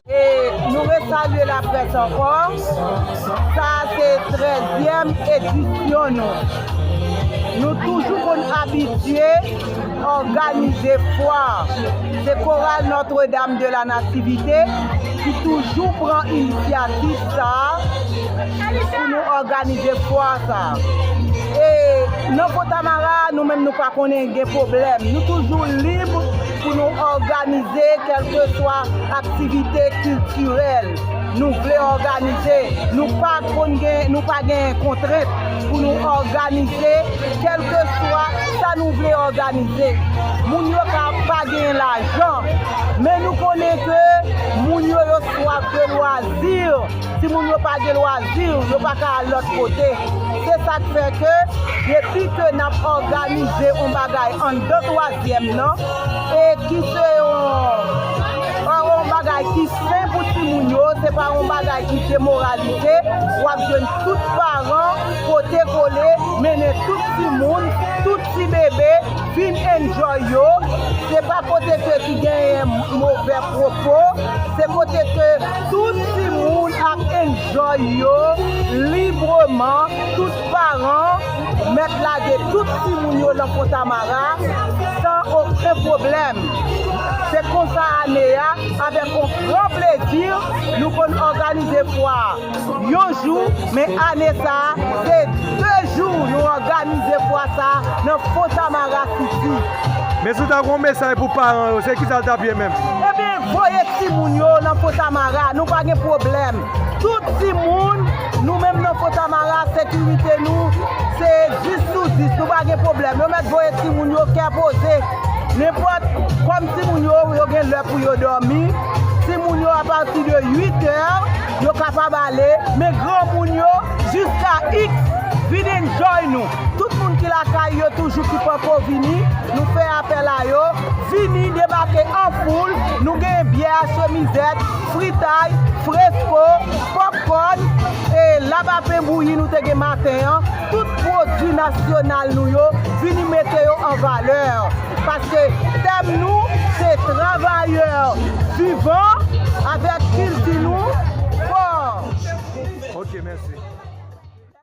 E nou resalye laprès ankò, sa a se trèzyèm edisyon nou. Nou toujou konn abitye òganize fwa. Se Koral Notre Dame de la Nativité ki toujou pran inisyativ sa a pou nou òganize fwa sa a. E nan Fontamara a, nou menm nou pa konnen gen pwoblèm. Nou toujou lib pou nou òganize kèlkeswa aktivite kiltirèl nou vle òganize. Nou pa konn gen, nou pa gen kontrent pou nou òganize kèlkeswa sa nou vle òganize. Moun yo ka pa gen lajan, men nou konnen ke moun yo yo swaf de lwazi. Timoun yo pa gen lwazi, yo pa ka al lòt kote. Se sa k fè ke depi ke n ap òganize yon bagay anndan twazyèm nan e ki se yon bagay ki sen pou timoun yo, se pa yon bagay ki demoralize, w ap jwenn tout paran pote kole mennen tout timoun, tout ti bebe vin enjoy yo. Se pa kote ke ki genyen move pwopo, se kote ke. Tout timoun ap enjoy yo libreman, tout paran mèt lage tout timoun yo nan Fontamara san oken pwoblèm. Se konsa ane a, avèk on gran plezi, nou konn òganize fwa a yon jou, men ane sa a, se 2 jou nou òganize fwa sa a nan Fontamara City. Men si w ta gen on mesaj pou paran yo, se kisa l t ap ye menm? Ebyen, Voye timoun yo nan fontamara nou pa gen pwoblèm tout timoun nou menm nan fontamara sekirite nou se 10 sou 10 nou pa gen pwoblèm yo mèt voye timoun yo kè poze nenpòt kòm timoun yo yo gen lè pou yo dòmi timoun yo apati de 8 è yo kapab ale men granmoun yo jiska iks vin enjoy nou. Tout moun ki lakay yo toujou ki panko vini, nou fè apèl a yo, vini debake an foul, nou genyen byè a chemizèt, fritay, fresko, popkòn, e labapen bouyi nou te gen maten an, tout pwodwi nasyonal nou yo, vini mete yo an valè, paske tèm nou se travayè vivan avèk kilti nou fò.